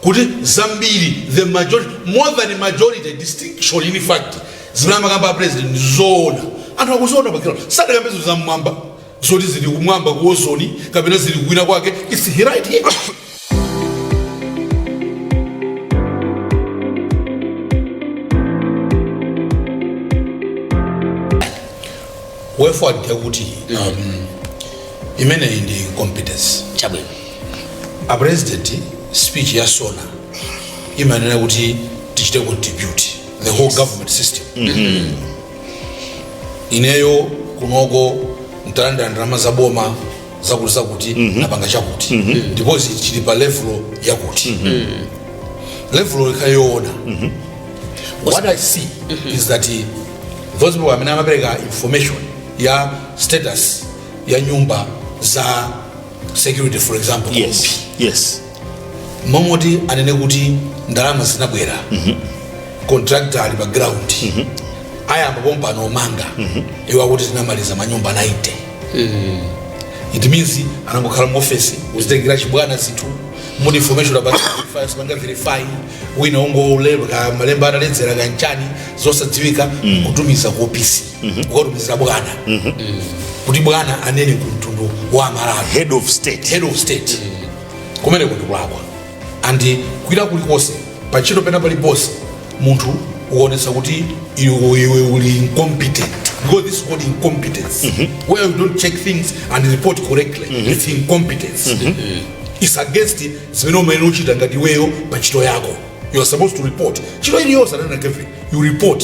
kuti zambiri the majority more than majority distinction in fact zimene amakamba a president ndi zoona anthu akuziona pakira sadakambe zinthu zam'mwamba zoti zili kumwamba ku ozoni kapena zili kuwina kwake it's right here wherefore kuti imeneyi ndi competence chabwino a president speech ya sona imanena kuti tichite contribute the whole government system ineyo kunoko ntalandira ndalama za boma zakuti zakuti tapanga chakuti ndipo izi chili pa level yakuti level ikhale yoona what i see is that eh, those people amene amapereka information ya status ya nyumba za security for example yes yes m'momoti anene kuti ndalama zinabwera contractor ali pa ground ayamba pompano omanga iwo akuti tinamaliza manyumba 90 it means anangokhala mu office kuzitengera chibwana zinthu mu information about verify sipanga verify wina ongolemba malemba ataledzera kachani zosadziwika kutumiza ku office kukatumizira bwana kuti bwana anene ku mtundu wa amalawi head of state head of state kumeneko ndi kulakwa and kwina kulikonse pantchito pena paliponse munthu ukaonetsa kuti iwe iwe uli incompetent because this is called incompetence where you don't check things and report correctly it's incompetence it's against zimene umayenera uchita ngati iweyo pa ntchito yako you are supposed to report ntchito iliyonse ananakeve you report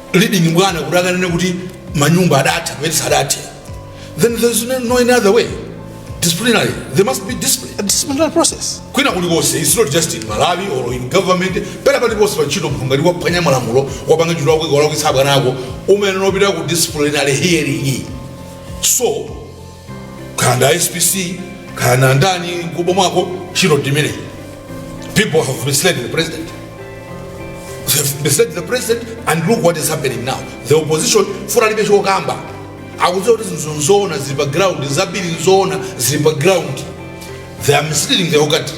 leading bwana kuti akanene kuti manyumba adatha koma asadathe then there is no, no any other way disciplinary there must be disciplinary process. kwina kulikonse it's not just in malawi or in government pena paliponse pa ntchito munthu ngati waphwanya malamulo wapanga ntchito yako wawalakwitsa abwana ako umayenera opita ku disciplinary hearing so kaya ndi a spc kaya ndi andani m'kubomako ntchito ndimeneyi people have misled the president They have misled the president and look what is happening now the opposition poti alibe chokamba akudziwa kuti zinthu nzoona zili pa ground zambiri nzoona zili pa ground they are misleading the whole country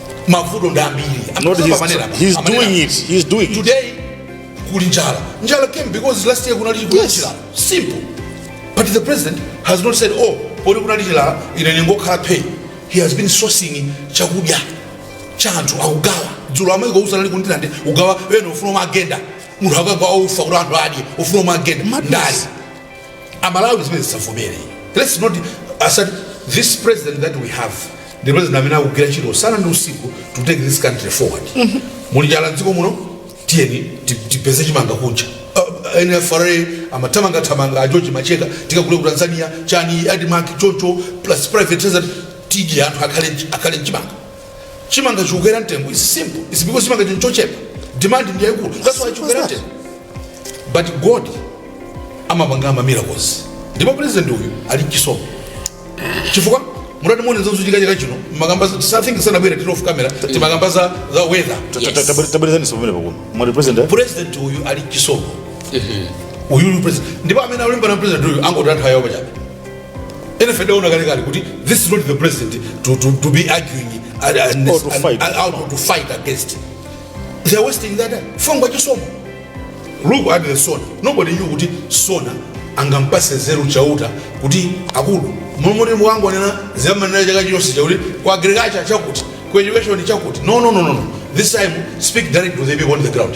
mavuto ndi ambiri amanena apa he's doing it today kuli njala njala came because last year kunali chilala simple but the president has not said oh poti kunali chilala ine ndingokhala phee he has been sourcing chakudya cha anthu akugawa dzulo amayi ku Usi anali ku Ndirande ugawa ena ufuna magenda munthu akagawa ufa kuti anthu adye ufuna magenda ndali Amalawi zimenezi tisavomere. Let's not accept this president that we have ndi president amene akugwira ntchito usana ndi usiku to take this country forward. Muli njala m'dziko muno tiyeni ti- tipeze chimanga kunja. Uh, NFRA amathamanga thamanga a George Macheka tikagule ku Tanzania chani Admarc choncho plus private sector tidye anthu akhale ndi chimanga. chimanga chikukwera mtengo is simple it's because chimangachi nchochepa demand ndi yaikulu that's why chikukwera mtengo but god amapanga ma miracles ndipo president uyu ali nchisomo chifukwa mutati muone zochitika chaka chino mumakamba something tisanabwere tili off camera timakamba za za weather tabwerezani sipamene pakuno mwati president president uyu ali nchisomo uyu uyu president ndipo amene akulimbana na president uyu angotaya nthawi yawo pachabe enafe tidaona kale kale kuti this is not the president to, to, to be arguing and, and, Or to and, fight. and, and to fight against they are wasting their time fukwa chisomo look at the SONA nobody knew kuti SONA angampatse nzeru chauta kuti akulu m'malo moti mukangonena zimene mumanena chaka chonse chakuti ku agriculture chakuti ku education chakuti no no no no no this time speak direct to the people on the ground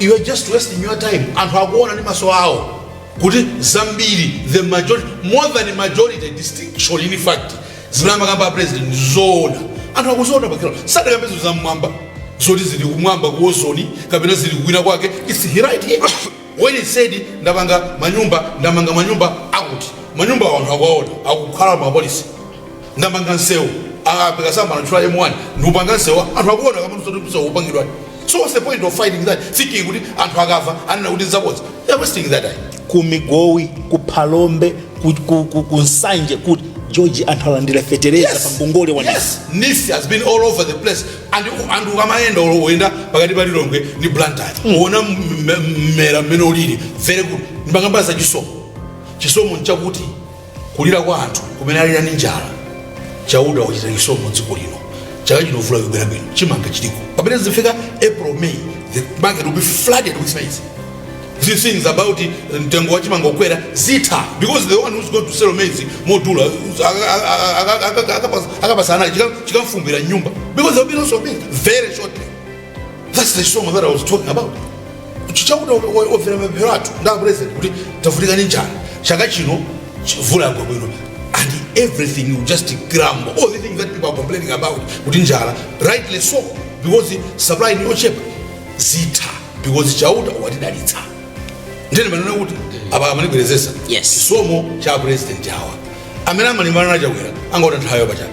you are just wasting your time anthu akuona ndi maso awo kuti zambiri the majority more than majority distinction in fact zimene amakamba a president zoona anthu akuziona pa ground sadakambe izo zam'mwamba zoti zili kumwamba ku ozone kapena zili kukwina kwake it's right here when he said ndamanga manyumba ndamanga manyumba akuti manyumba awo anthu akuwaona akukhalamo apolisi ndamanga msewu ah, apeka sanatchula ya M1 ndikupanga msewu anthu akuona kama msewu msewu upangidwa so what's the point of fighting that thinking kuti anthu akamva anena kuti nzabodza they're wasting their time ku migowi ku phalombe ku, ku, ku, ku nsanje kuti george anthu alandira fetereza pa ngongole wa NEEF yes NEEF has been all over the place and and ukamayenda olo uyenda pakati pa lilongwe ndi blantyre uona m- m- mmera mmene ulili very good ndimakamba za chisomo chisomo nchakuti kulira kwa anthu kumene alira ndi njala chauta wachita chisomo mu dziko lino chaka chino mvula ikubwera bwino chimanga chiliko pamene tizifika april may the market will be flooded with maize these things about uh, mtengo wa chimanga ukwera zitha because the one who's going to sell maize modula akapusa anali chikamfumbwira m'nyumba because there will be no shopping very shortly That's the chisomo that I was talking about. Kuti Chauta wamvera mapemphero athu ndi apresident kuti tavutika ndi njala chaka chino chi- mvula yagwa bwino and everything will just crumble all the things that people are complaining about kuti njala rightly so because supply ndi yochepa zitha because chauta watidalitsa nde ndimanena kuti apa amandibwerezetsa Yes. chisomo cha apresident awa amene amalimbana na Chakwera angotaya nthawi yawo pachabe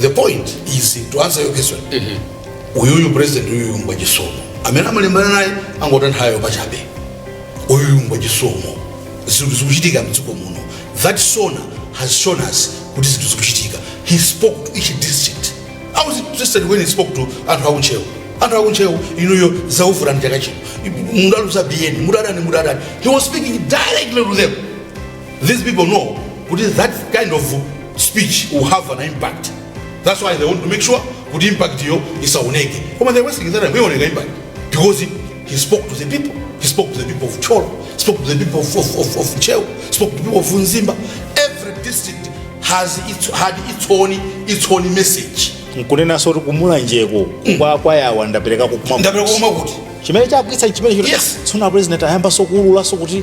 the point is to answer your question uyuyu president uyuyu ngwa chisomo amene amalimbana naye angotaya nthawi pachabe uyuyu ngwa chisomo zinthu zikuchitika mdziko muno that sona has shown us kuti zinthu zikuchitika he spoke to each district i was interested when he spoke to anthu akuntcheu anthu akuntcheu inuyo zauvurani chaka chino mudaluza bini mudadani mudadani he was speaking directly to them These people know kuti that kind of speech will have an impact. That's why they want to make sure kuti impact-yo isaoneke. Koma they're wasting their time iwoneka impact because he, he spoke to the people. He spoke to the people of Thyolo, spoke to the people of, of, of, of Ntcheu, spoke to the people of Mzimba. Every district has its, had its own, its own message. nkunenanso kuti ku Mulanjeko kwa kwayawa ndapereka kukuma Ndapereka kukuma kuti? chimene chagwitsa chimene Yes. SONA president ayambanso kuululanso kuti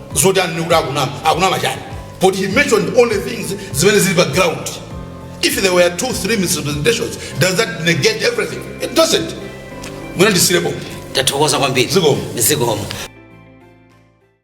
zoti anene kuti akunama akunama chani but he mentioned only things zimene zili pa ground if there were two three misrepresentations does that negate everything it doesn't mwina ndisiyirepo tathokoza kwambiri Zikomo. zikomo